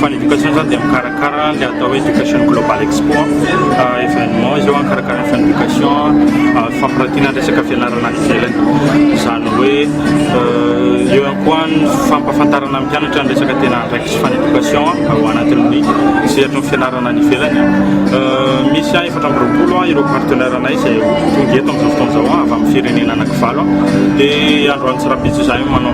Fany éducation zany dia mikarakara ny atao hoe éducation global expo événement izy eo mikarakara fany éducation fampiratiana ny resaka fianarana any ivelany izany hoe eo ihany koa ny fampahafantarana ny mpianatra ny resaka tena andraikitry fany éducation ao anatin'ny sehatry ny fianarana any ivelany misy a efatra amby roapolo a ireo partenaire anay izay tonga eto amin'izao fotoana izao avy amin'ny firenena anakivalo dia androany tsirapitsy izay manao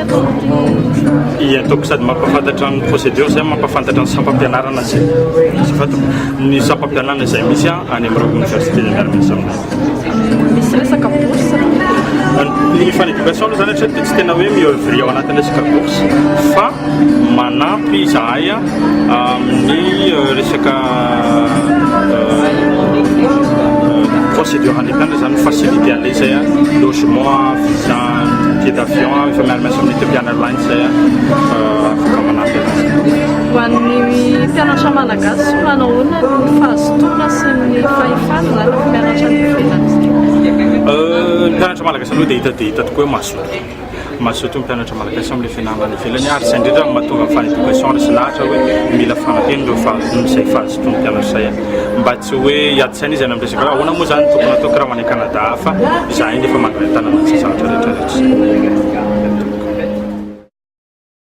I ataoko sady mampafantatra ny procédure zay mampafantatra ny sampam-pianarana sy azafady ny sampam-pianarana izay misy any amin'ireo université miara misy aminay. Misy resaka bourse ny fan éducation aloha zany hatreto dia tsy tena hoe miœuvre ao anatin'ny resaka bourse fa manampy izahay amin'ny euh, resaka euh, euh, procédure handikana zany facilité an'ilay izay logement visa Billet d'avion efa miara miasa amin'ny Ethiopian Airlines zay a, afaka manampy anazy. Ho an'ny mpianatra malagasy, manao ahoana ny fahazotoana sy ny fahefana zany rehefa mianatra any ivelany? Ny mpianatra malagasy aloha dia hita dia hita tokoa hoe mazoto, mazoto ny mpianatra malagasy amin'ilay fianarana any ivelany. Velany ary izay indrindra no mahatonga ny Fanny Education resy lahatra hoe mila fanampiana ireo fahazoana izay fahazotoan'ny mpianatra izay mba tsy hoe hiady saina izy any amin'ny resaka hoe ahoana moa izany no tokony hatao kiraho any Canada hafa izahay nefa mandray an-tanana an'izay zavatra rehetra rehetra izay.